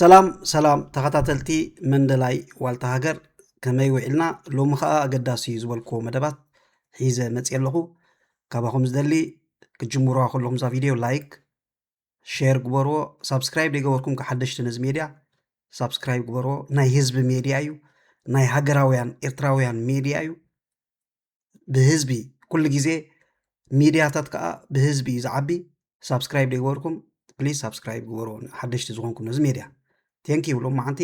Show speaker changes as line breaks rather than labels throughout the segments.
ሰላም ሰላም ተኸታተልቲ መንደላይ ዋልታ ሃገር ከመይ ውዒልና ሎሚ ከዓ ኣገዳሲ እዩ ዝበልክዎ መደባት ሒዘ መፅየ ኣለኹ ካባኹም ዝደሊ ክጅምሩዋ ከለኹም እዛ ቪድዮ ላይክ ሼር ግበርዎ ሳብስክራይብ ዘይገበርኩም ሓደሽቲ ነዚ ሜድያ ሳብስክራይብ ግበርዎ ናይ ህዝቢ ሜድያ እዩ ናይ ሃገራውያን ኤርትራውያን ሜድያ እዩ ብህዝቢ ኩሉ ግዜ ሚድያታት ከዓ ብህዝቢ እዩ ዝዓቢ ሳብስክራይብ ዘይገበርኩም ፕሊስ ሳብስክራይብ ግበሩ ሓደሽቲ ዝኾንኩም ነዚ ሜድያ ቴንክ ዩ ሎማዓንቲ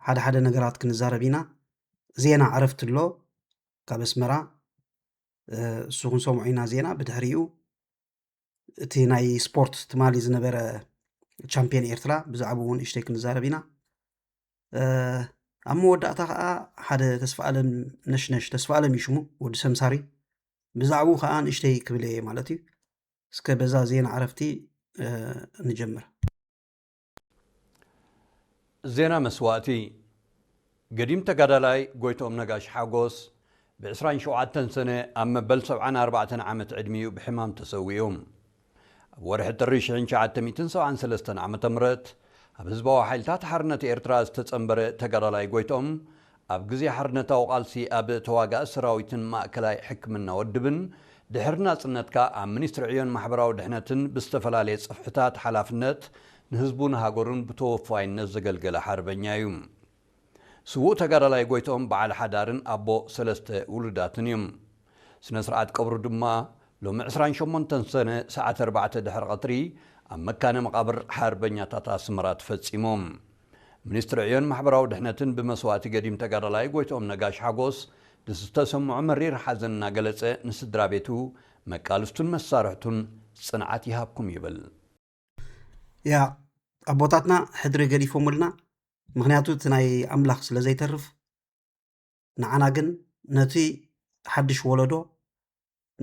ሓደ ሓደ ነገራት ክንዛረብ ኢና ዜና ዕረፍቲ ኣሎ ካብ ኣስመራ እሱ ክንሰምዖ ኢና ዜና ብድሕሪኡ እቲ ናይ ስፖርት ትማሊ ዝነበረ ቻምፒየን ኤርትራ ብዛዕባ እውን እሽተይ ክንዛረብ ኢና ኣብ መወዳእታ ከዓ ሓደ ተስፋ ኣለም ነሽነሽ ተስፋ ኣለም ይሽሙ ወዲ ሰምሳሪ ብዛዕቡ ከዓ ንእሽተይ ክብል እየ ማለት እዩ እስከ በዛ ዜና ዕረፍቲ ንጀምር
ዜና መስዋእቲ ገዲም ተጋዳላይ ጎይትኦም ነጋሽ ሓጎስ ብ ዕስራን ሸውዓተን ሰነ ኣብ መበል ሰብዓን ኣርባዕተን ዓመት ዕድሚኡ ብሕማም ተሰዊኡ። ኣብ ወርሒ ጥሪ ሽሕን ትሽዓተ ሚእትን ሰብዓን ሰለስተን ዓመተ ምህረት ኣብ ህዝባዊ ሓይልታት ሓርነት ኤርትራ ዝተጸንበረ ተጋዳላይ ጎይትኦም ኣብ ግዜ ሓርነታዊ ቃልሲ ኣብ ተዋጋኢ ሰራዊትን ማእከላይ ሕክምና ወድብን፣ ድሕሪ ናጽነት ከኣ ኣብ ሚኒስትሪ ዕዮን ማሕበራዊ ድሕነትን ብዝተፈላለየ ጽፍሕታት ሓላፍነት ንህዝቡን ሃገሩን ብተወፋይነት ዘገልገለ ሓርበኛ እዩ። ስዉእ ተጋዳላይ ጎይትኦም በዓል ሓዳርን ኣቦ ሰለስተ ውሉዳትን እዩ። ስነ ስርዓት ቀብሩ ድማ ሎሚ ዕስራን ሸሞንተን ሰነ ሰዓት ኣርባዕተ ድሕሪ ቐትሪ ኣብ መካነ መቓብር ሓርበኛታት ኣስመራ ተፈጺሙ። ሚኒስትሪ ዕዮን ማሕበራዊ ድሕነትን ብመስዋእቲ ገዲም ተጋዳላይ ጎይትኦም ነጋሽ ሓጎስ ንዝተሰምዖ መሪር ሓዘን እናገለጸ ንስድራቤቱ፣ መቃልስቱን መሳርሕቱን ጽንዓት ይሃብኩም ይብል።
ያእ ኣቦታትና ሕድሪ ገዲፎሙልና ምክንያቱ እቲ ናይ ኣምላክ ስለ ዘይተርፍ። ንዓና ግን ነቲ ሓድሽ ወለዶ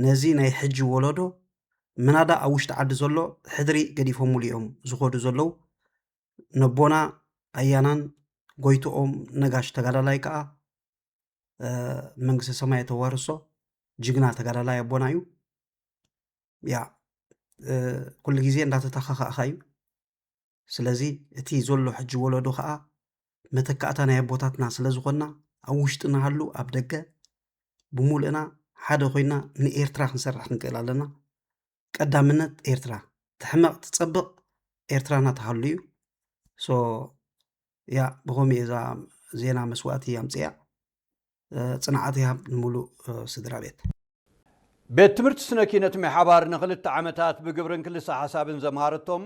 ነዚ ናይ ሕጂ ወለዶ ምናዳ ኣብ ውሽጢ ዓዲ ዘሎ ሕድሪ ገዲፎምሉ እዮም ዝኸዱ ዘለዉ ነቦና ኣያናን ጎይትኦም ነጋሽ ተጋዳላይ ከዓ መንግስቲ ሰማይ ተዋርሶ ጅግና ተጋዳላይ ኣቦና እዩ ያ ኩሉ ግዜ እንዳተተካካእካ እዩ ስለዚ እቲ ዘሎ ሕጂ ወለዶ ከዓ መተካእታ ናይ ኣቦታትና ስለ ዝኾንና ኣብ ውሽጢ ንሃሉ ኣብ ደገ ብሙሉእና ሓደ ኮይና ንኤርትራ ክንሰርሕ ክንክእል ኣለና ቀዳምነት ኤርትራ ትሕመቕ ትፀብቕ ኤርትራና ትሃሉ እዩ ሶ ያ ብኸምኡ እየ እዛ ዜና መስዋእቲ ኣምፅያ ፅንዓት ይሃብ ንሙሉእ ስድራ ቤት።
ቤት ትምህርቲ ስነ ኪነት ሜሓባር ንክልተ ዓመታት ብግብርን ክልሰ ሓሳብን ዘምሃረቶም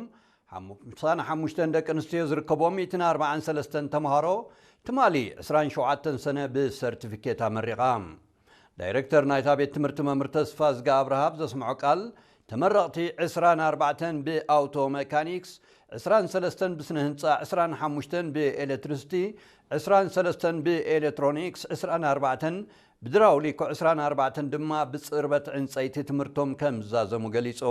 ሓምሳን ሓሙሽተን ደቂ ኣንስትዮ ዝርከቦም ሚእትን ኣርብዓን ሰለስተን ተምሃሮ ትማሊ ዕስራን ሸውዓተን ሰነ ብሰርቲፊኬት ኣመሪቓ። ዳይረክተር ናይታ ቤት ትምህርቲ መምህር ተስፋዝጊ ኣብርሃ ኣብ ዘስምዖ ቃል ተመረቕቲ ዕስራን ኣርባዕተን ብኣውቶ መካኒክስ፣ ዕስራን ሰለስተን ብስነ ህንጻ፣ ዕስራን ሓሙሽተን ብኤለትሪስቲ፣ ዕስራን ሰለስተን ብኤለትሮኒክስ፣ ዕስራን ኣርባዕተን ብድራውሊኮ፣ ዕስራን ኣርባዕተን ድማ ብጽርበት ዕንጸይቲ ትምህርቶም ከም ዝዛዘሙ ገሊጹ።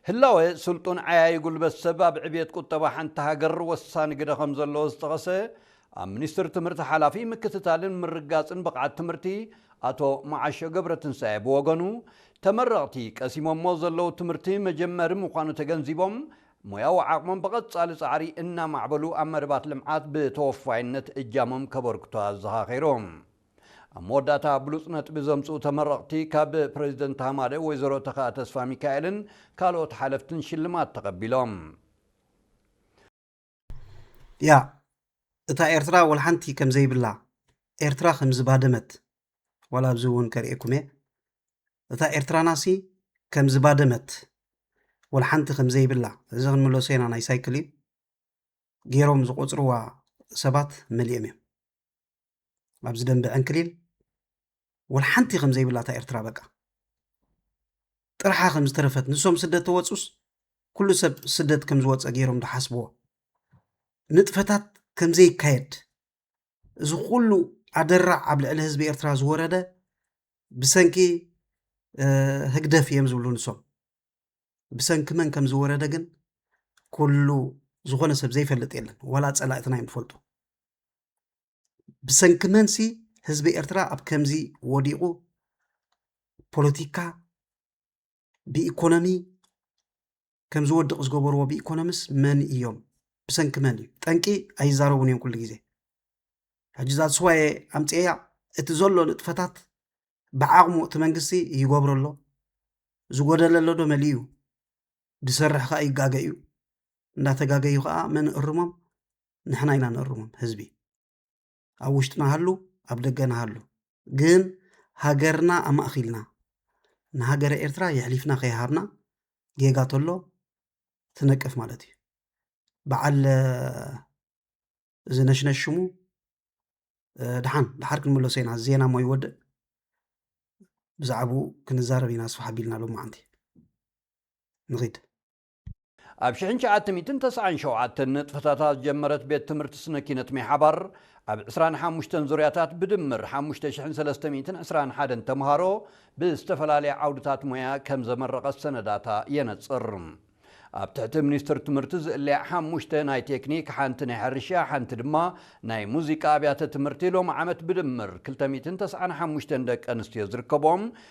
ህላወ ስልጡን ዓያዪ ጉልበት ሰብ ኣብ ዕብየት ቁጠባ ሓንቲ ሃገር ወሳኒ ግደ ከም ዘለዎ ዝጠቐሰ ኣብ ሚኒስትሪ ትምህርቲ ሓላፊ ምክትታልን ምርግጋጽን ብቕዓት ትምህርቲ ኣቶ መዓሾ ገብረትንሳኤ ብወገኑ ተመረቕቲ ቀሲሞሞ ዘለዉ ትምህርቲ መጀመሪ ምዃኑ ተገንዚቦም ሞያዊ ዓቕሞም ብቐፃሊ ፃዕሪ እናማዕበሉ ኣብ መደባት ልምዓት ብተወፋይነት እጃሞም ከበርክቱ ኣዘኻኺሩ። ኣብ መወዳእታ ብሉፅ ነጥቢ ዘምፅኡ ተመረቕቲ ካብ ፕረዚደንት ሃማደ ወይዘሮ ተኽኣ ተስፋሚካኤልን ካልኦት ሓለፍትን ሽልማት ተቐቢሎም።
ያ እታ ኤርትራ ወልሓንቲ ከም ዘይብላ ኤርትራ ከም ዝባደመት ዋላ ኣብዚ እውን ከርእየኩም እየ እታ ኤርትራናሲ ከም ዝባደመት ወልሓንቲ ከም ዘይብላ እዚ ክንምለሶ ኢና ናይ ሳይክል እዩ ገይሮም ዝቆፅርዋ ሰባት መሊኦም እዮም ኣብዚ ደንበ ዕንክሊል ወልሓንቲ ከም ዘይብላ እታ ኤርትራ በቃ ጥርሓ ከም ዝተረፈት ንሶም ስደት ተወፁስ ኩሉ ሰብ ስደት ከም ዝወፀ ገይሮም ዝሓስብዎ ንጥፈታት ከም ዘይካየድ እዚ ኩሉ ኣደራዕ ኣብ ልዕሊ ህዝቢ ኤርትራ ዝወረደ ብሰንኪ ህግደፍ እዮም ዝብሉ ንሶም ብሰንኪ መን ከም ዝወረደ ግን ኩሉ ዝኾነ ሰብ ዘይፈልጥ የለን ዋላ ፀላእትና እዮም ዝፈልጡ ብሰንኪ መንሲ ህዝቢ ኤርትራ ኣብ ከምዚ ወዲቑ ፖለቲካ ብኢኮኖሚ ከም ዝወድቕ ዝገበርዎ ብኢኮኖሚስ መን እዮም? ብሰንኪ መን እዩ? ጠንቂ ኣይዛረቡን እዮም ኩሉ ግዜ። ሕጂ እዛ ስዋየ ኣምፅኤያ እቲ ዘሎ ንጥፈታት ብዓቕሙ እቲ መንግስቲ ይገብሮ ኣሎ ዝጎደለ ኣሎ ዶ መሊኡ እዩ ዝሰርሕ ከዓ ይጋገ እዩ እንዳተጋገዩ ከዓ መን እርሞም ንሕና ኢና ነርሞም ህዝቢ ኣብ ውሽጥና ሃሉ ኣብ ደገና ሃሉ ግን ሃገርና ኣማእኺልና ንሃገረ ኤርትራ የሕሊፍና ከይሃብና ጌጋ ተሎ ትነቅፍ ማለት እዩ በዓል እዚ ነሽነሽ ሽሙ ድሓን ድሓር ክንመለሶ ኢና ዜና ሞ ይወድእ ብዛዕባኡ ክንዛረብ ኢና ኣስፋሕ ኣቢልና ሎማዓንቲ ንኺድ
ኣብ ሽሕን ትሽዓተ ሚእትን ተስዓን ሸውዓተን ንጥፈታታ ዝጀመረት ቤት ትምህርቲ ስነ ኪነት ሜሓባር ኣብ ዕስራን ሓሙሽተን ዙርያታት ብድምር ሓሙሽተ ሽሕን ሰለስተ ሚእትን ዕስራን ሓደን ተምሃሮ ብዝተፈላለየ ዓውድታት ሞያ ከም ዘመረቐት ሰነዳታ የነጽር። ኣብ ትሕቲ ሚኒስትር ትምህርቲ ዝእለያ ሓሙሽተ ናይ ቴክኒክ፣ ሓንቲ ናይ ሕርሻ፣ ሓንቲ ድማ ናይ ሙዚቃ ኣብያተ ትምህርቲ ሎሚ ዓመት ብድምር ክልተ ሚእትን ተስዓን ሓሙሽተን ደቂ ኣንስትዮ ዝርከብኦም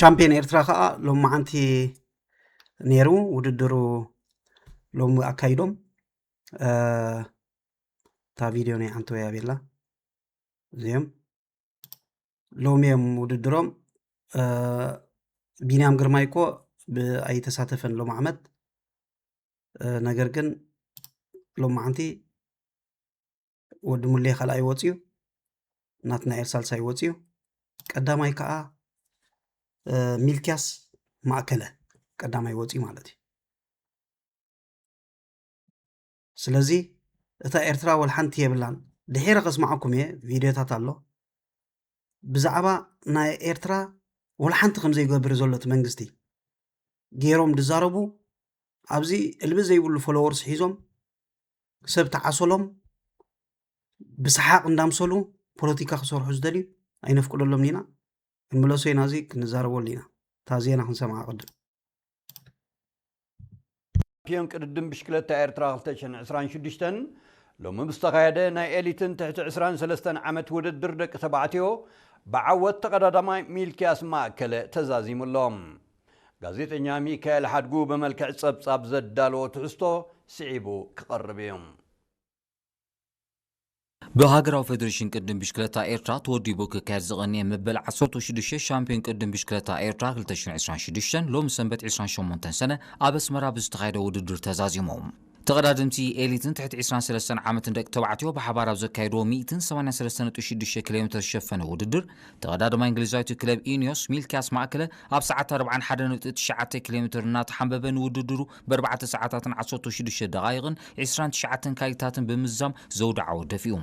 ቻምፒየን ኤርትራ ከዓ ሎም መዓንቲ ነይሩ ውድድሩ ሎም ኣካይዶም እታ ቪድዮ ናይ ሓንቲ ወያ ቤላ እዚኦም ሎሚ እዮም ውድድሮም ቢንያም ግርማይ እኮ ኣይተሳተፈን ሎም ዓመት ነገር ግን ሎም መዓንቲ ወዲ ሙሌ ካልኣይ ወፅዩ ናትናኤል ሳልሳይ ወፅዩ ቀዳማይ ከዓ ሚልኪያስ ማእከለ ቀዳማይ ወፅዩ ማለት እዩ ስለዚ እታ ኤርትራ ወልሓንቲ የብላን ድሒረ ከስማዓኩም እየ ቪድዮታት ኣሎ ብዛዕባ ናይ ኤርትራ ወልሓንቲ ከምዘይገብር ዘሎ እቲ መንግስቲ ገይሮም ዝዛረቡ ኣብዚ እልቢ ዘይብሉ ፎሎወርስ ሒዞም ሰብ ተዓሶሎም ብሰሓቅ እንዳምሰሉ ፖለቲካ ክሰርሑ ዝደልዩ ኣይነፍቅደሎምን ኢና ክንምለሶ ኢና እዚ ክንዛረበሉ ኢና እታ ዜና ክንሰምዓ ቅድም
ሻምፒዮን ቅድድም ብሽክለታ ኤርትራ 2026 ሎሚ ብዝተኻየደ ናይ ኤሊትን ትሕቲ 23 ዓመት ውድድር ደቂ ተባዕትዮ ብዓወት ተቐዳዳማይ ሚልኪያስ ማእከለ ተዛዚሙ ኣሎ። ጋዜጠኛ ሚካኤል ሓድጉ ብመልክዕ ጸብጻብ ዘዳለዎ ትሕዝቶ ስዒቡ ክቐርብ እዩ።
ብሃገራዊ ፈደሬሽን ቅድድም ብሽክለታ ኤርትራ ተወዲቡ ክካየድ ዝቐንየ መበል ዓሰርተው ሽዱሽተ ሻምፕዮን ቅድድም ብሽክለታ ኤርትራ ክልተ ሽሕን ዕስራን ሽዱሽተን ሎሚ ሰንበት ዕስራን ሸሞንተን ሰነ ኣብ ኣስመራ ብዝተኻየደ ውድድር ተዛዚሙ። ተቐዳደምቲ ኤሊትን ትሕቲ ዕስራን ሰለስተን ዓመትን ደቂ ተባዕትዮ ብሓባር ኣብ ዘካየድዎ ሚእትን ሰማንያን ሰለስተ ነጥቢ ሽዱሽተ ኪሎሜተር ዝሸፈነ ውድድር፣ ተቐዳደማይ እንግሊዛዊት ክለብ ኢኒዮስ፣ ሚልክያስ ማእከለ፣ ኣብ ሰዓት ኣርብዓን ሓደ ነጥቢ ትሽዓተ ኪሎሜተር እናተሓምበበ ንውድድሩ በርባዕተ ሰዓታትን ዓሰርተው ሽዱሽተ ደቓይቕን ዕስራን ትሽዓተን ካሊታትን ብምዝዛም ዘውዲ ዓወት ደፊኡ።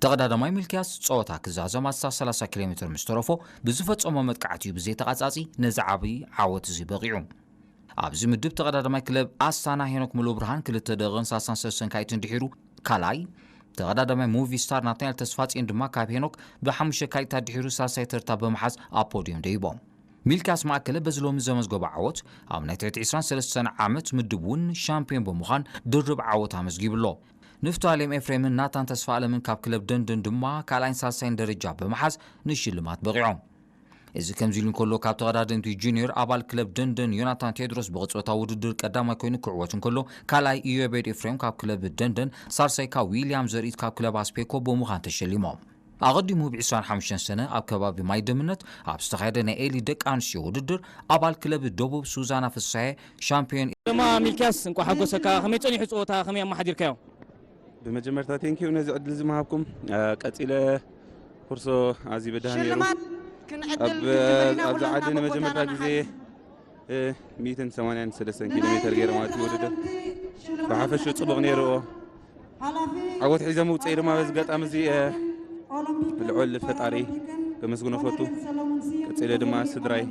ተቐዳደማይ ሚልክያስ ጸወታ ክዛዘም ኣስታት ሰላሳ ኪሎሜተር ምስ ተረፎ ብዝፈጸሞ መጥቃዕቲ'ዩ ብዘይ ተቛጻጺ ነዚ ዓቢ ዓወት'ዚ በቒዑ። ኣብዚ ምድብ ተቐዳዳማይ ክለብ ኣስታና ሄኖክ ሙሉብርሃን ክልተ ደቕን ሳሳን ሰሰን ካይትን ድሒሩ ካልኣይ፣ ተቐዳዳማይ ሙቪ ስታር ናትናኤል ተስፋጽዮን ድማ ካብ ሄኖክ ብሓሙሽተ ካይታት ድሒሩ ሳልሳይ ተርታ ብምሓዝ ኣብ ፖድዮም ደይቦም። ሚልክያስ ማእከለ በዚ ሎሚ ዘመዝገቦ ዓወት ኣብ ናይ ትሕቲ ዕስራን ሰለስተን ዓመት ምድብ እውን ሻምፕዮን ብምዃን ድርብ ዓወት ኣመዝጊቡ ኣሎ። ንፍታሌም ኤፍሬምን ናታን ተስፋኣለምን ካብ ክለብ ደንደን ድማ ካልኣይን ሳልሳይን ደረጃ ብምሓዝ ንሽልማት በቒዖም። እዚ ከምዚሉ እንከሎ ካብ ተቐዳደምቲ ጁንዮር ኣባል ክለብ ደንደን ዮናታን ቴድሮስ ብቕጽበታዊ ውድድር ቀዳማይ ኮይኑ ክዕወት እንከሎ ካልኣይ ኢዮቤድ ኤፍሬም ካብ ክለብ ደንደን ሳልሳይ ካብ ዊልያም ዘርኢት ካብ ክለብ ኣስፔኮ ብምዃን ተሸሊሞም። ኣቐዲሙ ብ ዕስራን ሓሙሽተን ሰነ ኣብ ከባቢ ማይደምነት ኣብ ዝተኻየደ ናይ ኤሊት ደቂ ኣንስትዮ ውድድር ኣባል ክለብ ደቡብ ሱዛና ፍስሃየ ሻምፕዮን ግርማ ሚልክያስ
እንቋዕ ሓጎሰካ ከመይ ጸኒሑ ጸወታ ከመይ ኣመሓዲርካዮ? ብመጀመርታ
ቴንኪው ነዚ ዕድል እዚ ምሃብኩም ቀጺለ ኩርሶ ኣዚ ብድሃ ነይሩ ኣብዚ ዓዲ ንመጀመርታ ግዜ 183 ኪሎ ሜተር ገይረ ማለት እዩ ውድድር ብሓፈሹ ፅቡቕ ነይሩዎ ዓወት ሒዘ ምውፅኢ ድማ በዚ ገጣሚ እዚ ልዑል ፈጣሪ ከመስግኖ ፈቱ ቀፂለ ድማ ስድራይ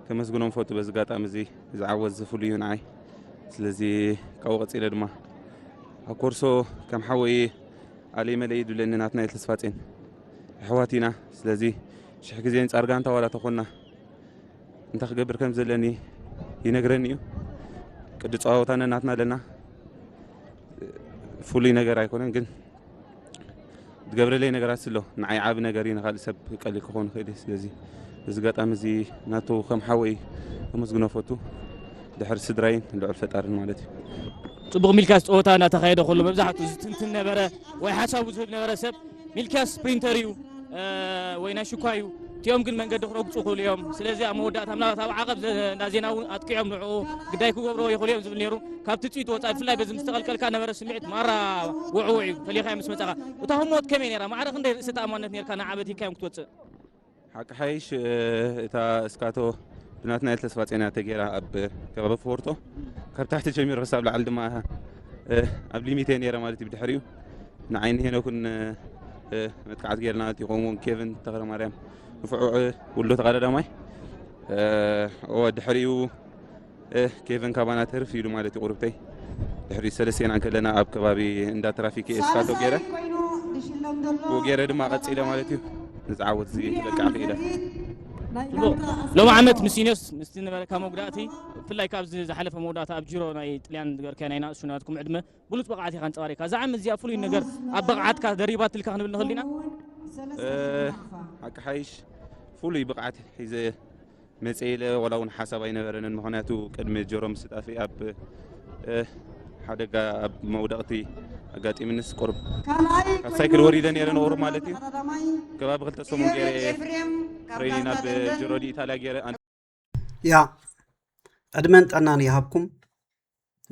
ከመስግኖም ፈቱ በዚ ኣጋጣሚ እዚ ዝዓወት ዝፍሉዩ ንዓይ ስለዚ ካብኡ ቀፂለ ድማ ኣብ ኮርሶ ከም ሓወይ ኣለይ መለይ ድብለኒ ናትናኤል ተስፋጼን ኣሕዋት ኢና ስለዚ ሽሕ ግዜ ንፃር ጋንታ ዋላ ተኾና እንታይ ክገብር ከም ዘለኒ ይነግረኒ እዩ ቅዲ ፀዋወታ ነናትና ኣለና ፍሉይ ነገር ኣይኮነን ግን ዝገብረለይ ነገራት ስለ ንዓይ ዓብ ነገር እዩ ንካልእ ሰብ ቀሊል ክኸውን ይኽእል እዩ ስለዚ እዚ ጋጣሚ እዚ ናቱ ከም ሓወይ ኣመስግኖ ፈቱ ድሕሪ ስድራይን ልዑል ፈጣርን ማለት እዩ ፅቡቅ
ሚልካስ ፀወታ እናተካየደ ከሎ መብዛሕትኡ ዝትንትን ነበረ ወይ ሓሳቡ ዝህብ ነበረ ሰብ ሚልካስ ፕሪንተር እዩ ወይ ናይ ሽኳ እዩ እቲኦም ግን መንገዲ ክረግፁ ይኽእሉ እዮም ስለዚ ኣብ መወዳእታ ምናልባት ኣብ ዓቐብ እንዳ ዜና እውን ኣጥቂዖም ንዕኡ ግዳይ ክገብርዎ ይኽእሉ እዮም ዝብል ነይሩ ካብ ትፅኢት ወፃኢ ብፍላይ በዚ ምስ ተቐልቀልካ ነበረ ስምዒት ማራ ውዕውዕ እዩ ፈሊኻዮ ምስ መፀኻ እታ ህሞት ከመይ ነይራ ማዕረ ክንደይ ርእሰ ተኣማንነት ነርካ ንዓበት ሂካዮም ክትወፅእ ሓቂ
ሓይሽ እታ እስካቶ ብናትናኤል ተስፋጼና ተጌራ ኣብ ከባቢ ፎርቶ ካብ ታሕቲ ጀሚሩ ክሳብ ላዕሊ ድማ ኣብ ሊሚት እየ ነይረ ማለት እዩ ብድሕሪኡ ንዓይኒ ሄኖክን መጥቃዕቲ ጌርና እቲ ከምኡውን ኬቨን ተክለ ማርያም ንፍዑዕ ውሎ ተቀዳዳማይ ድሕሪኡ ኬቨን ካባና ተርፍ ኢሉ ማለት እዩ ቁርብተይ ድሕሪ ሰለስቴና ከለና ኣብ ከባቢ እንዳ ትራፊክ ኤስካቶ ገይረ ብኡ ገይረ ድማ ቀፂለ ማለት እዩ ንዝዓወት እዚ ክበቅዕ ክኢለ
ሎሚ ዓመት ምስ ኢንዮስ ምስቲ ነበረካ መጉዳእቲ ብፍላይ ካብዚ ዝሓለፈ መወዳእታ ኣብ ጅሮ ናይ ጥልያን ዝበርከያ ናይ ናእሱ ናትኩም ዕድመ ብሉጽ ብቕዓት ኢኻ ኣንጸባሪቕካ። እዛ ዓመት እዚኣ ፍሉይ ነገር ኣብ ብቕዓትካ ደሪባትልካ ክንብል ንኽእል ዲና?
ሓቂ ሓይሽ ፍሉይ ብቕዓት ሒዘ መጸ ኢለ ዋላ እውን ሓሳብ ኣይነበረንን። ምኽንያቱ ቅድሚ ጀሮም ምስጣፊ ኣብ ሓደጋ ኣብ መውደቕቲ ኣጋጢምንስ ቁርብ ካብ ሳይክል ወሪደ ነይረ ንቑሩብ ማለት እዩ ከባቢ ክልተ ሰሙን ገይረ ትሬኒን ኣብ ጅሮዲ ኢታልያ ገይረ ያ
ዕድመን ጠናን ይሃብኩም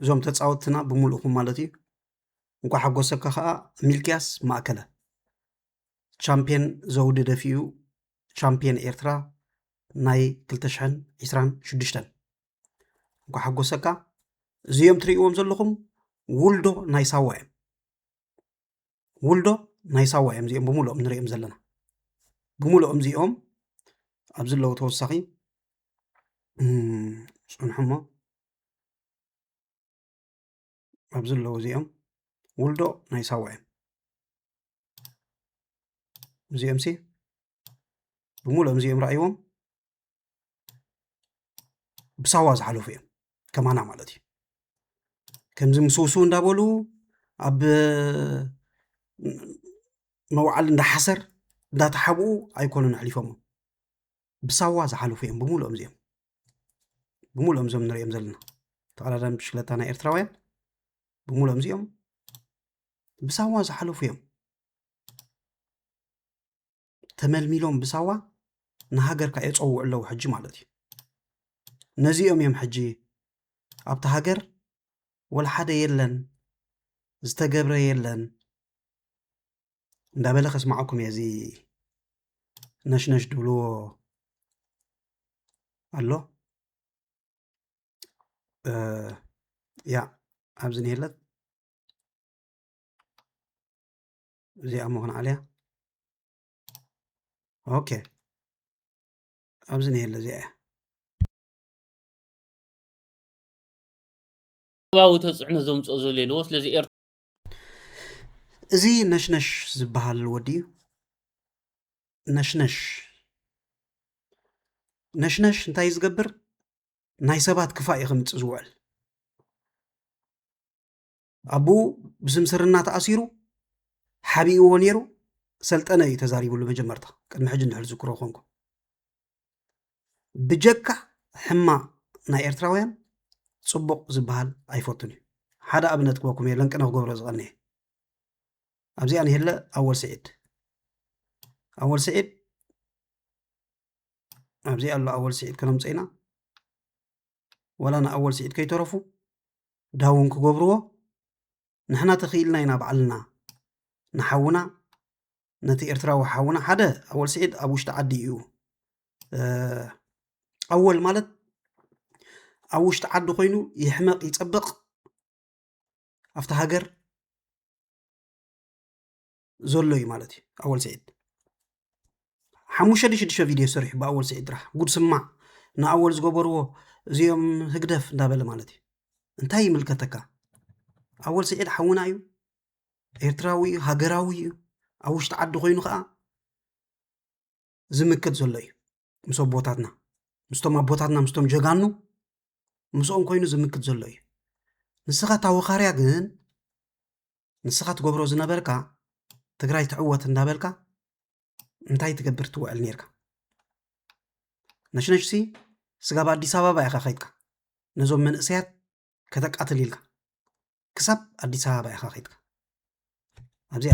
እዞም ተፃወትና ብምልእኹም ማለት እዩ እንኳ ሓጎሰካ ከዓ ሚልክያስ ማእከለ ቻምፒየን ዘውዲ ደፊኡ ቻምፒየን ኤርትራ ናይ 226 እንኳ ሓጎሰካ እዚኦም ትርእዎም ዘለኹም ውልዶ ናይ ሳዋ እዮም ውልዶ ናይ ሳዋ እዮም እዚኦም ብምሉኦም ንሪኦም ዘለና ብምሉኦም እዚኦም ኣብዚ ኣለዉ ተወሳኺ ፅንሑሞ ኣብዚ ኣለዉ እዚኦም ውልዶ ናይ ሳዋ እዮም እዚኦም ሲ ብምሉኦም እዚኦም ረኣይዎም ብሳዋ ዝሓለፉ እዮም ከማና ማለት እዩ ከምዚ ምስውሱ እንዳበሉ ኣብ መውዓል እንዳሓሰር እንዳተሓብኡ ኣይኮኑን ኣሕሊፎሞ ብሳዋ ዝሓለፉ እዮም ብምሉኦም እዚኦም ብምሉኦም እዞም ንሪኦም ዘለና ተቐዳዳሚ ብሽክለታ ናይ ኤርትራውያን ብምሉኦም እዚኦም ብሳዋ ዝሓለፉ እዮም ተመልሚሎም ብሳዋ ንሃገርካ የፀውዑ ኣለዉ ሕጂ ማለት እዩ ነዚኦም እዮም ሕጂ ኣብቲ ሃገር ወልሓደ የለን ዝተገብረ የለን እንዳበለ ከስማዓኩም እየ እዚ ነሽነሽ ድብልዎ ኣሎ ያ ኣብዚ ነየለት እዚኣ መኾን ዓልያ ኦኬ ኣብዚ ነየለ እዚኣ እያ
ባዊ ተፅዕኖ ዘምፅኦ ዘሎ የለዎ ስለዚ ኤር
እዚ ነሽነሽ ዝበሃል ወዲ እዩ ነሽነሽ ነሽነሽ እንታይ እዩ ዝገብር ናይ ሰባት ክፋእ እዩ ከምፅእ ዝውዕል ኣቡኡ ብስምስርና ተኣሲሩ ሓቢእዎ ነይሩ ሰልጠነ እዩ ተዛሪብሉ መጀመርታ ቅድሚ ሕጂ እንድሕር ዝክሮ ኮንኩ ብጀካ ሕማ ናይ ኤርትራውያን ፅቡቕ ዝበሃል ኣይፈቱን እዩ ሓደ ኣብነት ክበኩም እየ ለንቅነ ክገብሮ ዝቐንየ ኣብዚኣ ንሄለ ኣወል ስዒድ ኣወል ስዒድ ኣብዚኣ ኣሎ ኣወል ስዒድ ከነምፀኢና ወላ ንኣወል ስዒድ ከይተረፉ ዳውን ክገብርዎ ንሕና ተኽኢልና ኢና ባዕልና ንሓውና ነቲ ኤርትራዊ ሓውና ሓደ ኣወል ስዒድ ኣብ ውሽጢ ዓዲ እዩ ኣወል ማለት ኣብ ውሽጢ ዓዲ ኮይኑ ይሕመቕ ይፀብቕ ኣብቲ ሃገር ዘሎ እዩ ማለት እዩ ኣወል ስዒድ ሓሙሽተ ሽዱሽተ ቪድዮ ሰሪሑ ብኣወል ስዒድ ጥራሕ ጉድ ስማዕ ንኣወል ዝገበርዎ እዚኦም ህግደፍ እንዳበለ ማለት እዩ እንታይ ይምልከተካ ኣወል ስዒድ ሓውና እዩ ኤርትራዊ እዩ ሃገራዊ እዩ ኣብ ውሽጢ ዓዲ ኮይኑ ከዓ ዝምክት ዘሎ እዩ ምስ ኣቦታትና ምስቶም ኣቦታትና ምስቶም ጀጋኑ ምስኦም ኮይኑ ዝምክት ዘሎ እዩ ንስኻ ታወኻርያ ግን ንስኻ ትገብሮ ዝነበርካ ትግራይ ትዕወት እንዳበልካ እንታይ ትገብር ትውዕል ነርካ ነሽነሽሲ ስጋብ ኣዲስ ኣበባ ኢኻ ከይድካ ነዞም መንእሰያት ከተቃትል ኢልካ ክሳብ ኣዲስ ኣበባ ኢኻ ከይድካ ኣብዚኣ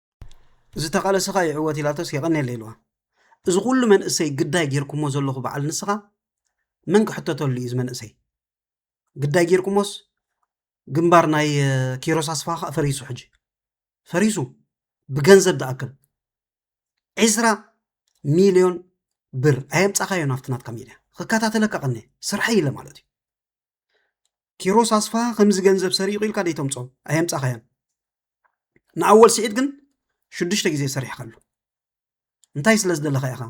ዝተቓለሰኻ ይዕወት ኢላቶስ የቐኔለ ኢልዋ። እዚ ኩሉ መንእሰይ ግዳይ ጌርኩሞ ዘለኹ በዓል ንስኻ መን ክሕተተሉ እዩ እዚ መንእሰይ ግዳይ ጌርኩሞስ ግንባር ናይ ኪሮስ ኣስፋ ከዓ ፈሪሱ ሕጂ ፈሪሱ ብገንዘብ ዝኣክል ዕስራ ሚልዮን ብር ኣየምፃኻዮ ናብቲ ናትካ ሚድያ ክከታተለካ ቀኒ ስርሐይ ኢለ ማለት እዩ ኪሮስ ኣስፋሃ ከምዚ ገንዘብ ሰሪቑ ኢልካ ደይተምፆ ኣየምፃኻያን ንኣወል ስዒድ ግን ሽዱሽተ ግዜ ሰሪሕካሉ እንታይ ስለ ዝደለኻ ኢኻ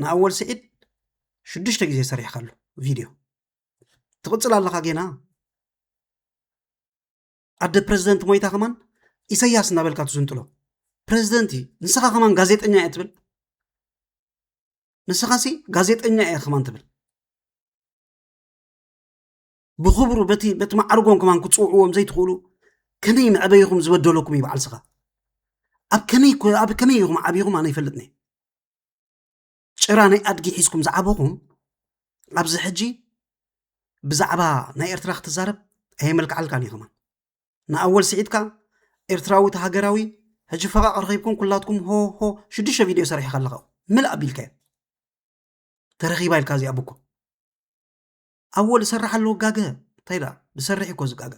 ንኣወል ስዒድ ሽዱሽተ ግዜ ሰሪሕካሉ ቪድዮ ትቕፅል ኣለኻ ጌና ኣደ ፕረዚደንት ሞይታ ከማን ኢሰያስ እናበልካ ትዝንጥሎ ፕረዚደንት እዩ ንስኻ ከማን ጋዜጠኛ እየ ትብል ንስኻ ሲ ጋዜጠኛ እየ ከማን ትብል ብኽብሩ በቲ በቲ ማዕርጎም ከማን ክትፅውዕዎም ዘይትኽእሉ ከመይ መዕበይኹም ዝበደለኩም እዩ በዓል ስኻ ኣብ ከመይ ኣብ ከመይ ኢኹም ዓብኹም ኣነ ይፈልጥኒ ጭራ ናይ ኣድጊ ሒዝኩም ዝዓበኹም ኣብዚ ሕጂ ብዛዕባ ናይ ኤርትራ ክትዛረብ ኣየመልክዓልካን እዩ ከማን ንኣወል ስዒድካ ኤርትራዊ ሃገራዊ ሕጂ ፈቓቕ ረኺብኩም ኩላትኩም ሆሆ ሽዱሽተ ቪድዮ ሰሪሕኻ ኣለኻ ምልእ ኣቢልካዮ ተረኺባ ኢልካ እዚኣ ብኮ ኣወል ዝሰርሕ ኣለዎ ጋገ እንታይ ደኣ ዝሰርሕ እኮ ዝጋገ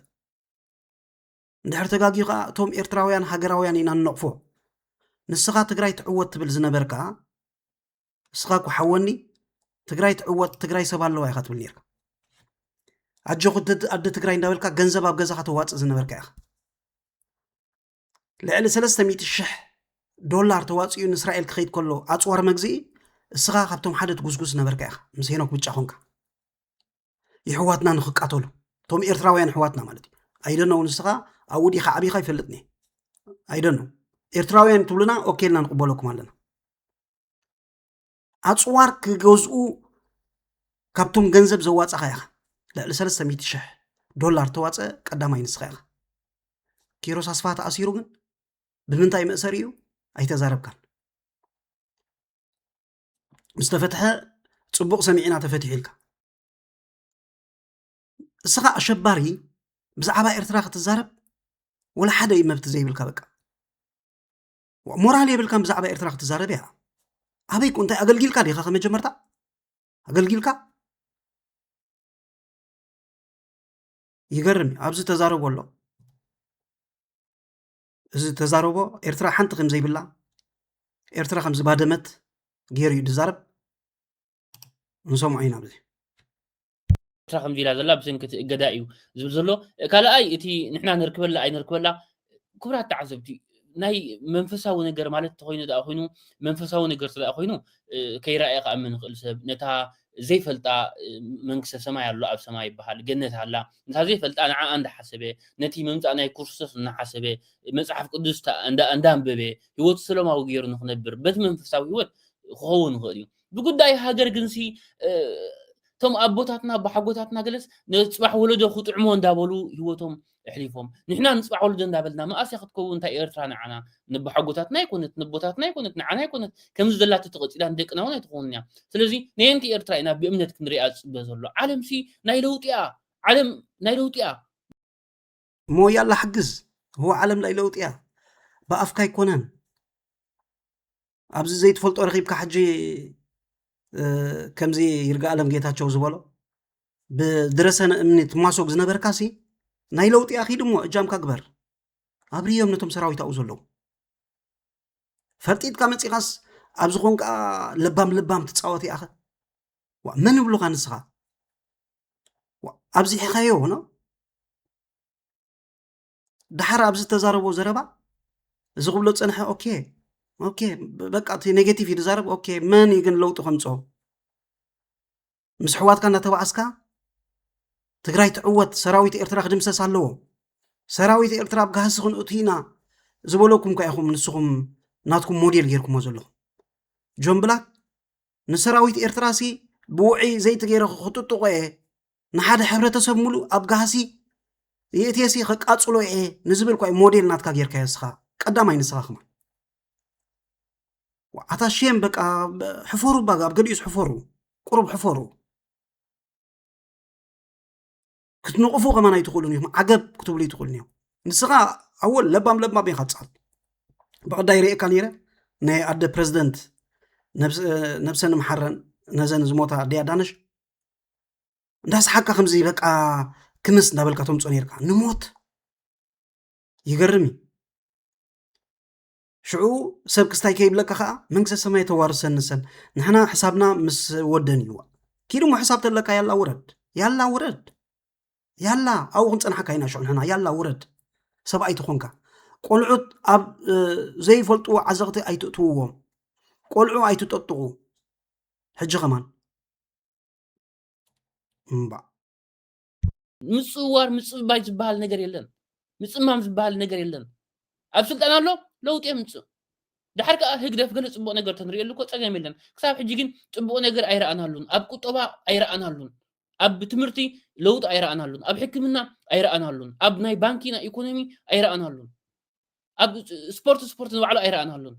እንድሕር ተጋጊዩ ከዓ እቶም ኤርትራውያን ሃገራውያን ኢና ንነቕፎ ንስኻ ትግራይ ትዕወት ትብል ዝነበርካ ንስኻ እኮ ሓወኒ ትግራይ ትዕወት ትግራይ ሰብ ኣለዋ ኢኻ ትብል ነርካ ኣጆኹ ኣደ ትግራይ እንዳበልካ ገንዘብ ኣብ ገዛኻ ተዋፅእ ዝነበርካ ኢኻ ልዕሊ ሰለስተ ሚእቲ ሽሕ ዶላር ተዋፂኡ ንእስራኤል ክኸይድ ከሎ ኣፅዋር መግዝኢ እስኻ ካብቶም ሓደ ትጉስጉስ ነበርካ ኢኻ ምስ ሄኖክ ብጫ ኮንካ ይሕዋትና ንክቃተሉ እቶም ኤርትራውያን ኣሕዋትና ማለት እዩ ኣይደኖ እውን ንስኻ ኣብኡ ዲኻ ዓብኻ ይፈልጥኒ ኣይደኖ ኤርትራውያን ትብሉና ኦኬልና ንቕበለኩም ኣለና ኣፅዋር ክገዝኡ ካብቶም ገንዘብ ዘዋፀኻ ኢኻ ልዕሊ 300 ሽሕ ዶላር ተዋፀ ቀዳማይ ንስኻ ኢኻ ኪሮስ ኣስፋ ተኣሲሩ ግን ብምንታይ መእሰሪ እዩ ኣይተዛረብካን ምስ ተፈትሐ ፅቡቕ ሰሚዕና ተፈትሑ ኢልካ እስኻ ኣሸባሪ ብዛዕባ ኤርትራ ክትዛረብ ወላ ሓደ መብቲ ዘይብልካ በቃ ሞራል የብልካን ብዛዕባ ኤርትራ ክትዛረብ እያ ኣበይ ኮ እንታይ ኣገልጊልካ ዲኻ ከመጀመርታ ኣገልጊልካ ይገርም እዩ ኣብዚ ተዛረቦ ኣሎ እዚ ተዛረቦ ኤርትራ ሓንቲ ከም ዘይብላ ኤርትራ ከም ዝባደመት ገይሩ እዩ ዝዛረብ ንሰምዖ ኢና ብዚ
ኤርትራ ከምዚ ኢላ ዘላ ብሰንኪ እቲ እገዳ እዩ ዝብል ዘሎ ካልኣይ እቲ ንሕና ነርክበላ ኣይነርክበላ ክብራት ተዓዘብቲ ናይ መንፈሳዊ ነገር ማለት ተኮይኑ ዳኣ ኮይኑ መንፈሳዊ ነገር ስለ ኮይኑ ከይረኣየ ከኣምን ንኽእል ሰብ ነታ ዘይፈልጣ መንግስተ ሰማይ ኣሎ ኣብ ሰማይ ይበሃል ገነት ኣላ ነታ ዘይፈልጣ ንዓኣ እንዳሓሰበ ነቲ ምምፃእ ናይ ክርስቶስ እናሓሰበ መፅሓፍ ቅዱስ እንዳንበበ ህይወቱ ሰለማዊ ገይሩ ንክነብር በቲ መንፈሳዊ ህይወት ክኸውን ይኽእል እዩ ብጉዳይ ሃገር ግንሲ እቶም ኣቦታትና ብሓጎታትና ገለስ ንፅባሕ ወለዶ ክጥዕሞ እንዳበሉ ህይወቶም ኣሕሊፎም ንሕና ንፅባሕ ወለዶ እንዳበልና መኣስ እያ ክትከውን እንታይ ኤርትራ ንዓና ንብሓጎታትና ኣይኮነት ንቦታትና ኣይኮነት ንዓና ኣይኮነት ከምዚ ዘላቶ ተቐፂላ ንደቅና እውን ኣይትኸውን እያ ስለዚ ነየንቲ ኤርትራ ኢና ብእምነት ክንሪኣ ዝፅበ ዘሎ ዓለምሲ ናይ ለውጢ እያ ዓለም ናይ ለውጢ እያ እሞ ያላ
ሓግዝ
እዎ
ዓለም ላይ ለውጢ እያ ብኣፍካ ኣይኮነን ኣብዚ ዘይትፈልጦ ረኪብካ ሕጂ ከምዚ ይርጋ ኣለም ጌታቸው ዝበሎ ብድረሰነ እምኒ ትማሶግ ዝነበርካ ሲ ናይ ለውጢ ኣኪድ እሞ እጃምካ ግበር ኣብርዮም ነቶም ሰራዊት ኣብኡ ዘለዉ ፈርጢጥካ መፂኻስ ኣብ ዝኾን ከዓ ለባም ለባም ትፃወት ይኣኸ መን ብሉካ ንስኻ ኣብዚሒኻዮ ሆኖ ድሓር ኣብዚ ተዛረቦ ዘረባ እዚ ክብሎ ፀንሐ ኦኬ ኦኬ በቃ እቲ ኔጌቲቭ እዩ ዝዛረብ ኦኬ መን እዩ ግን ለውጢ ከምፆ ምስ ኣሕዋትካ እናተባኣስካ ትግራይ ትዕወት ሰራዊት ኤርትራ ክድምሰስ ኣለዎ ሰራዊት ኤርትራ ኣብ ጋህሲ ክንእቱ ኢና ዝበለኩም ካ ኢኹም ንስኹም ናትኩም ሞዴል ጌርኩሞ ዘለኹም ጆን ብላክ ንሰራዊት ኤርትራሲ ብውዒ ዘይቲ ገይረ ክጥጥቆ እየ ንሓደ ሕብረተሰብ ሙሉ ኣብ ጋህሲ የእቴሲ ከቃጽሎ እየ ንዝብል ኳይ ሞዴል ናትካ ጌርካ ንስኻ ቀዳማይ ንስኻ ክማ ኣታ ሼም በቃ ሕፈሩ ባጋ ኣብ ገዲኡስ ሕፈሩ ቁሩብ ሕፈሩ ክትንቕፉ ከማን ኣይትኽእሉን ኢኹም ዓገብ ክትብሉ ይትኽእሉን እዮም ንስኻ ኣወል ለባም ለባም ኢኻ ትፅሕፍ ብቕዳይ ርእካ ነይረ ናይ ኣደ ፕረዚደንት ነብሰን ምሓረን ነዘን ዝሞታ ኣደ ኣዳነሽ እንዳስሓካ ከምዚ በቃ ክምስ እንዳበልካ ተምፆ ነርካ ንሞት ይገርም እዩ ሽዑ ሰብ ክስታይ ከይብለካ ከዓ መንግስተ ሰማይ ተዋርሰኒ ሰብ ንሕና ሕሳብና ምስ ወደን እዩ ኪድ እሞ ሕሳብ ተለካ ያላ ውረድ ያላ ውረድ ያላ ኣብኡ ክንፀናሓካ ኢና ሽዑ ንሕና ያላ ውረድ ሰብኣይ ተኾንካ ቆልዑት ኣብ ዘይፈልጥዎ ዓዘቕቲ ኣይትእትውዎም ቆልዑ ኣይትጠጥቑ ሕጂ ከማን እምባ
ምፅዋር ምፅባይ ዝበሃል ነገር የለን ምፅማም ዝበሃል ነገር የለን ኣብ ስልጣን ኣሎ ለውጢ የምፅእ ድሓር ከዓ ህግደፍ ገለ ፅቡቅ ነገር ተንሪእሉ እኮ ፀገም የለን ክሳብ ሕጂ ግን ፅቡቅ ነገር ኣይረኣናሉን ኣብ ቁጠባ ኣይረኣናሉን ኣብ ትምህርቲ ለውጢ ኣይረኣናሉን ኣብ ሕክምና ኣይረኣናሉን ኣብ ናይ ባንኪ ናይ ኢኮኖሚ ኣይረኣናሉን ኣብ ስፖርት ስፖርት ንባዕሉ ኣይረኣናሉን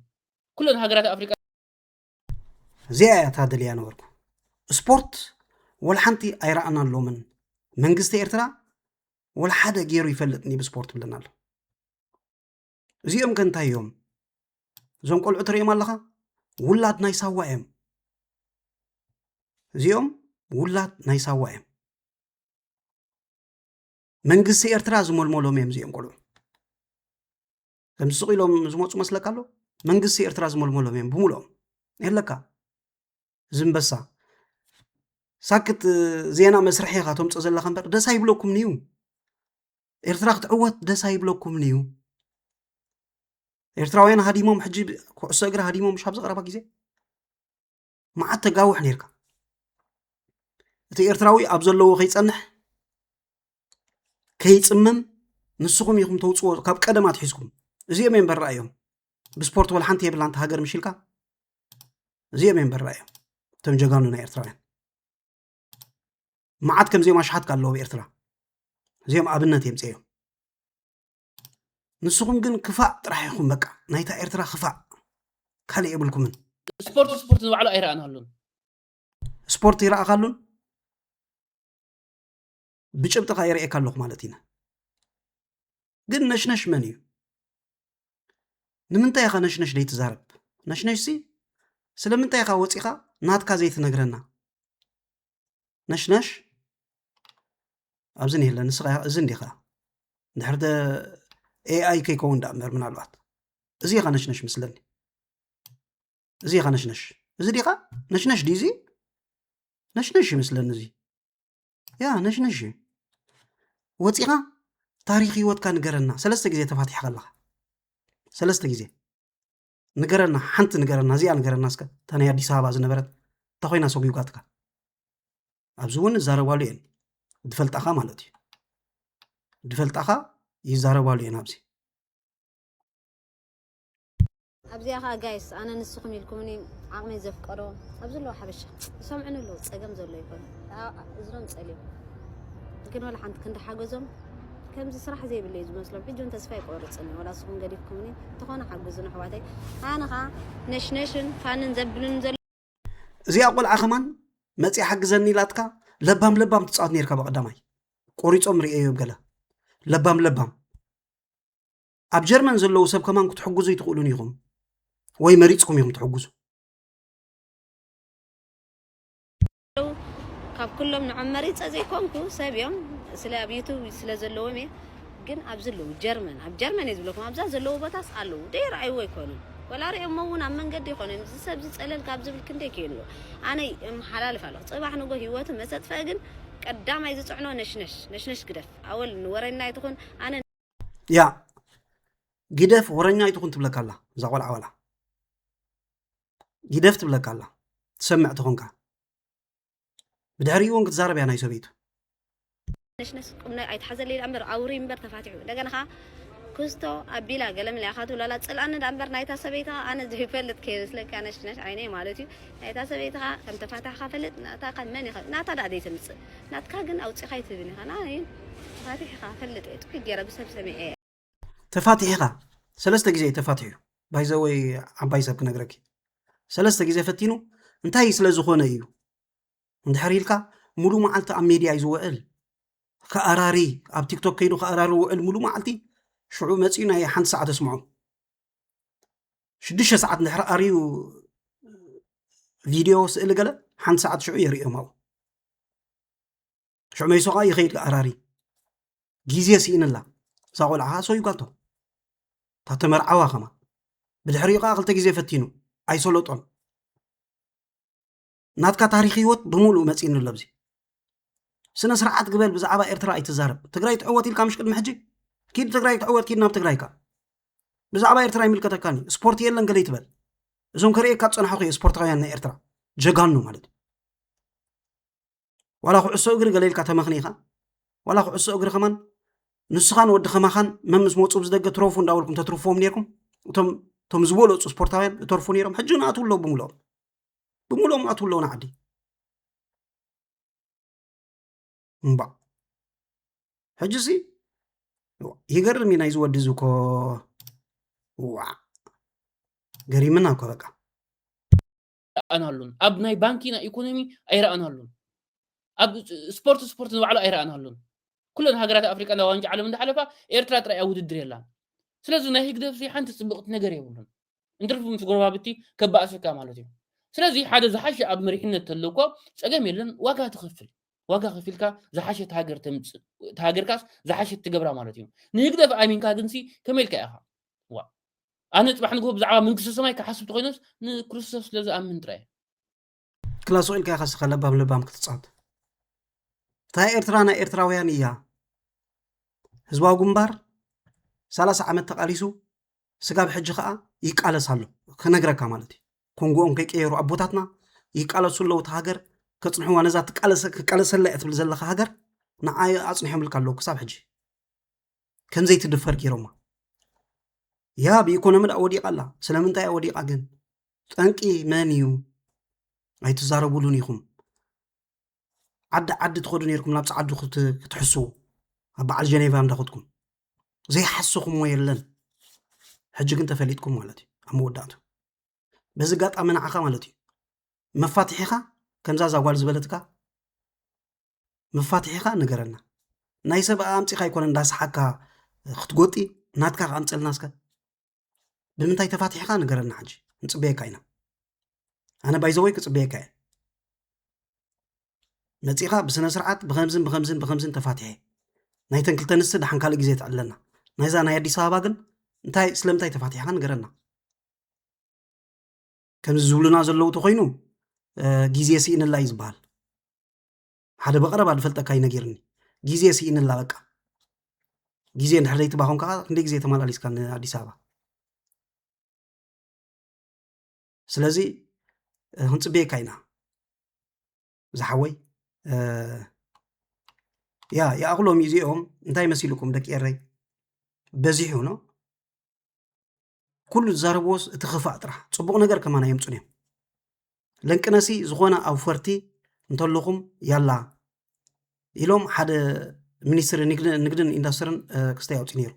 ኩለን ሃገራት ኣፍሪቃ
እዚኣ እያ ታደልያ ነበርኩ ስፖርት ወልሓንቲ ኣይረኣና ኣሎምን መንግስቲ ኤርትራ ወልሓደ ገይሩ ይፈልጥኒ ብስፖርት ብለና ኣሎ እዚኦም ከ እንታይ እዮም እዞም ቆልዑ ትርእዮም ኣለኻ ውላድ ናይ ሳዋ እዮም እዚኦም ውላድ ናይ ሳዋ እዮም መንግስቲ ኤርትራ ዝመልመሎም እዮም እዚኦም ቆልዑ ከምዚ ስቕ ኢሎም ዝመፁ መስለካ ኣሎ መንግስቲ ኤርትራ ዝመልመሎም እዮም ብምልኦም የለካ እዚ እምበሳ ሳክት ዜና መስርሒ ኢኻ ተምፆ ዘለካ እምበር ደስ ኣይብለኩምን እዩ ኤርትራ ክትዕወት ደስ ኣይብለኩምን እዩ ኤርትራውያን ሃዲሞም ሕጂ ኩዕሶ እግሪ ሃዲሞም ሻብ ዘቕረባ ግዜ መዓት ተጋውሕ ነርካ እቲ ኤርትራዊ ኣብ ዘለዎ ከይፀንሕ ከይፅምም ንስኹም ኢኹም ተውፅዎ ካብ ቀደም ኣትሒዝኩም እዚኦም እዮም በራ እዮም ብስፖርት ወል ሓንቲ የብላ እንተ ሃገር ምሽልካ እዚኦም እዮም በራ እዮም እቶም ጀጋኑ ናይ ኤርትራውያን መዓት ከምዚኦም ኣሽሓትካ ኣለዎ ብኤርትራ እዚኦም ኣብነት የምፅኦም ንስኹም ግን ክፋእ ጥራሕ ኢኹም በቃ ናይታ ኤርትራ ክፋእ ካልእ የብልኩምን ስፖርት ስፖርት ዝባዕሉ
ኣይረኣናሉን ስፖርት
ይረኣኻሉን ብጭብጥኻ የርእየካ ኣለኹ ማለት ኢና ግን ነሽነሽ መን እዩ ንምንታይ ኢኻ ነሽነሽ ዘይትዛረብ ነሽነሽ ሲ ስለምንታይ ኢኻ ወፂኻ ናትካ ዘይትነግረና ነሽነሽ ኣብዚ ንየለ ንስኻ እዚ እንዲኻ ድሕር ኤኣይ ከይከውን ዳ እምበር ምናልባት እዚ ኢኻ ነሽነሽ ምስለኒ እዚ ኢኻ ነሽነሽ እዚ ዲኻ ነሽነሽ ዲዚ ነሽነሽ ይምስለኒ እዚ ያ ነሽነሽ እዩ ወፂኻ ታሪክ ህይወትካ ንገረና ሰለስተ ግዜ ተፋቲሕካ ኣለካ ሰለስተ ግዜ ንገረና ሓንቲ ንገረና እዚኣ ንገረና እስከ እታ ናይ ኣዲስ ኣበባ ዝነበረት እታ ኮይና ሰጉጓትካ ኣብዚ እውን ይዛረባሉ እየን ድፈልጣኻ ማለት እዩ ድፈልጣኻ ይዛረባሉ እየን ኣብዚ ኣብዚኣ ከዓ
ጋይስ ኣነ ንስኹም ኢልኩምኒ ዓቕመይ ዘፍቀዶ ኣብዚ ኣለዎ ሓበሻ ይሰምዑኒ ኣለዉ ፀገም ዘሎ ይኮኑ እዝኖም ፀልዮም ግን ወላ ሓንቲ ክንዲ ሓገዞም ከምዚ ስራሕ ዘይብሉ እዩ ዝመስሎም ሕጂ ውን ተስፋ ኣይቆርጽን እየ ዋላ ንስኩም ገዲፍኩምኒ እንተኾነ ሓጉዙኒ ኣሕዋተይ ኣነ ከኣ ነሽነሽን ፋንን ዘብሉን ዘሎ እዚኣ
ቆልዓ ከማን መፅያ ሓግዘኒ ኢላትካ ለባም ለባም ትፃወት ነርካ ብቀዳማይ ቆሪፆም ርእየዮም ገለ ለባም ለባም ኣብ ጀርመን ዘለዉ ሰብ ከማን ክትሕግዙ ይትኽእሉን ኢኹም ወይ መሪፅኩም ኢኹም ትሕግዙ
ካብ ኩሎም ንዖም መሪጸ ዘይኮንኩ ሰብ እዮም ስለ ኣብ ዩቱብ ስለ ዘለዎም እየ ግን ኣብዚ ኣለዉ ጀርመን ኣብ ጀርመን እየ ዝብለኩም ኣብዛ ዘለዉ ቦታስ ኣለዉ ደይረኣይዎ ኣይኮኑን ወላ ሪኦሞ እውን ኣብ መንገዲ ይኾኑ እዮም እዚ ሰብዚ ፀለል ካብ ዝብል ክንደይ ከይንዎ ኣነ የመሓላልፍ ኣለኹ ፅባሕ ንጎ ሂወቱ መሰጥፈኢ ግን ቀዳማይ ዝፅዕኖ ነሽነሽ ነሽነሽ ግደፍ ኣወል ንወረና ይትኹን ኣነ ያ
ግደፍ ወረኛ ይትኹን ትብለካ ኣላ እዛ ቆልዓ ዋላ ጊደፍ ትብለካ ኣላ ትሰምዕ ተኾንካ ብድሕሪኡ እውን ክትዛረብ እያ ናይ ሰበይቱ
ነሽነሽ ቁም ኣይትሓዘለይ ዳ እምበር ኣውሪ እምበር ተፋቲሑ እንደገና ከዓ ክስቶ ኣቢላ ገለምለ ኢኻ ትብሎ ኣላ ፅልኣኒ ዳ እምበር ናይታ ሰበይቲ ከዓ ኣነ ዘይፈልጥ ከይመስለካ ነሽነሽ ዓይነይ ማለት እዩ ናይታ ሰበይቲ ከዓ ከም ተፋታሕካ ፈልጥ ናታ ከዓ መን ኢኻ ናታ ዳ ዘይተምፅእ ናትካ ግን ኣውፂኻ ይትብን ኢኻ ንዓይ ተፋቲሕ ኢኻ ፈልጥ እየ ጥቂ ገይረ ብሰብ ሰሚዐ እየ ተፋቲሕኻ
ሰለስተ ግዜ እዩ ተፋቲሑ ባይዘወይ ዓባይ ሰብ ክነግረኪ ሰለስተ ግዜ ፈቲኑ እንታይ ስለ ዝኾነ እዩ እንድሕር ኢልካ ሙሉ መዓልቲ ኣብ ሜድያ እዩ ዝውዕል ከኣራሪ ኣብ ቲክቶክ ከይዱ ከኣራሪ ውዕል ሙሉ መዓልቲ ሽዑ መፅኡ ናይ ሓንቲ ሰዓት ኣስምዖ ሽዱሽተ ሰዓት እንድሕር ኣርዩ ቪድዮ ስእሊ ገለ ሓንቲ ሰዓት ሽዑ የርእዮም ኣብኡ ሽዑ መይሶ ከዓ ይኸይድ ኣራሪ ጊዜ ስኢንላ እዛ ቆልዓ ከዓ ሰው ይጓልቶ ታተ መርዓዋ ከማ ብድሕሪኡ ከዓ ክልተ ጊዜ ፈቲኑ ኣይሰለጦን ናትካ ታሪክ ህይወት ብምሉእ መፂኒ ኣሎ ብዚ ስነ ስርዓት ግበል ብዛዕባ ኤርትራ ኣይትዛረብ ትግራይ ትዕወት ኢልካ ምሽ ቅድሚ ሕጂ ኪድ ትግራይ ትዕወት ኪድ ናብ ትግራይካ ብዛዕባ ኤርትራ ይምልከተካኒ ስፖርት የለን ገለ ይትበል እዞም ከርእየካ ዝፀናሕኹ እየ ስፖርታውያን ናይ ኤርትራ ጀጋኑ ማለት እዩ ዋላ ኩዕሶ እግሪ ገለ ኢልካ ተመኽኒኻ ዋላ ኩዕሶ እግሪ ከማን ንስኻን ወዲ ከማኻን መምስ መፁ ብዝደገ ትረፉ እንዳበልኩም ተትርፍዎም ነርኩም እቶም እቶም ዝበለፁ ስፖርታውያን እተርፉ ነይሮም ሕጂ እውን ኣትው ኣለዉ ብምልኦም ብምልኦም ኣትው ኣለዉ ንዓዲ እምባ ሕጂ ሲ ይገርም እዩ ናይዚ ወዲ እዚ እኮ ዋ ገሪምና እኮ በቃ
ኣይረኣናሉን። ኣብ ናይ ባንኪ ናይ ኢኮኖሚ ኣይረኣናሉን። ኣብ ስፖርት ስፖርት ንባዕሉ ኣይረኣናሉን። ኩለን ሃገራት ኣፍሪቃ ናብ ዋንጫ ዓለም እንዳሓለፋ ኤርትራ ጥራይ ኣብ ውድድር የላን። ስለዚ ናይ ህግደፍ ሓንቲ ጽብቕቲ ነገር የብሉን። እንትርፍ ምስ ጎረባብቲ ከባእሰካ ማለት እዩ። ስለዚ ሓደ ዝሓሸ ኣብ መሪሕነት ተሎ እኮ ጸገም የለን ዋጋ ትኸፍል ዋጋ ከፊልካ ዝሓሸት ሃገር ተምጽእ እቲ ሃገርካስ ዝሓሸት ትገብራ ማለት እዩ ንህግደፍ ኣሚንካ ግንሲ ከመይ ኢልካ ኢኻ ዋ ኣነ ፅባሕ ንግሆ ብዛዕባ መንግስተ ሰማይ ክሓስብ ተኮይነስ ንክርስቶስ ስለ ዝኣምን ጥራይ ክላሶ
ኢልካ ኢኻ ስኸ ለባም ለባም ክትፃወት እታ ኤርትራ ናይ ኤርትራውያን እያ ህዝባዊ ግንባር ሰላሳ ዓመት ተቃሊሱ ስጋብ ሕጂ ከዓ ይቃለስ ኣሎ ክነግረካ ማለት እዩ ኮንጎኦም ከይቀየሩ ኣቦታትና ይቃለሱ ኣለዉ እቲ ሃገር ከፅንሕዋ ነዛ ክቃለሰላ እያ ትብል ዘለካ ሃገር ንዓይ ኣፅኒሖምልካ ኣለዉ ክሳብ ሕጂ ከም ዘይትድፈር ገይሮማ ያ ብኢኮኖሚ ዳ ወዲቃ ኣላ ስለምንታይ እያ ወዲቃ ግን ጠንቂ መን እዩ ኣይትዛረቡሉን ኢኹም ዓዲ ዓዲ ትኸዱ ነርኩም ናብ ፀዓዱ ክትሕስዉ ኣብ በዓል ጀኔቫ እንዳኸትኩም ዘይሓስኹምዎ የለን ሕጂ ግን ተፈሊጥኩም ማለት እዩ ኣብ መወዳእቱ በዚ ኣጋጣሚ ንዓኻ ማለት እዩ መፋትሒኻ ከምዛ ዛጓል ዝበለትካ መፋትሒኻ ንገረና ናይ ሰብ ኣምፂኻ ኣይኮነ እንዳሰሓካ ክትጎጢ ናትካ ኣምፀልና እስከ ብምንታይ ተፋትሒኻ ንገረና ሕጂ ንፅበየካ ኢና ኣነ ባይዘወይ ክፅበየካ እየ መፂኻ ብስነ ስርዓት ብከምዝን ብከምዝን ብከምዝን ተፋትሐ ናይተን ክልተ ንስቲ ድሓን ካልእ ግዜ ትዕለና ናይዛ ናይ ኣዲስ ኣበባ ግን እንታይ ስለምንታይ ተፋትሕካ ንገረና ከምዚ ዝብሉና ዘለዉ ተኮይኑ ግዜ ስኢንላ እዩ ዝበሃል ሓደ ብቐረባ ዝፈልጠካ እዩ ነጊርኒ ግዜ ስኢንላ በቃ ግዜ እንድሕር ዘይትባኾንካ ከዓ ክንደይ ግዜ ተመላሊስካ ንኣዲስ ኣበባ ስለዚ ክንፅበየካ ኢና ዝሓወይ ያ ይኣኽሎም እዩ እዚኦም እንታይ መሲልኩም ደቂ ኤረይ በዚሑ ኖ ኩሉ ዝዛረብዎስ እቲ ክፋእ ጥራሕ ፅቡቕ ነገር ከማን ኣየምፁን እዮም ለንቅነሲ ዝኾነ ኣውፈርቲ እንተለኹም ያላ ኢሎም ሓደ ሚኒስትሪ ንግድን ኢንዱስትርን ክስታይ ኣውፂ ነይሩ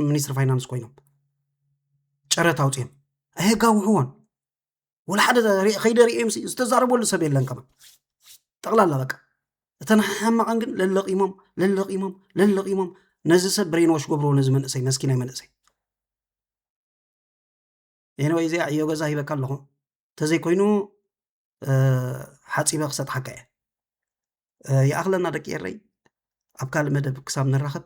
ሚኒስትሪ ፋይናንስ ኮይኖም ጨረታ ኣውፅኦም ኣየጋውሕዎን ወላ ሓደ ከይደ ርእዮምሲ ዝተዛረበሉ ሰብ የለን ከማ ጠቕላላ በቃ እተን ሓማቐን ግን ለለቂሞም ለለቂሞም ለለቂሞም ነዚ ሰብ ብሬንዎሽ ገብርዎ ነዚ መንእሰይ መስኪናይ መንእሰይ ኤንወይ እዚኣ ዕዮ ገዛ ሂበካ ኣለኹ እንተዘይኮይኑ ሓፂበ ክሰጥሓካ እየ ይኣኽለና ደቂ ኤረይ ኣብ ካልእ መደብ ክሳብ ንራኸብ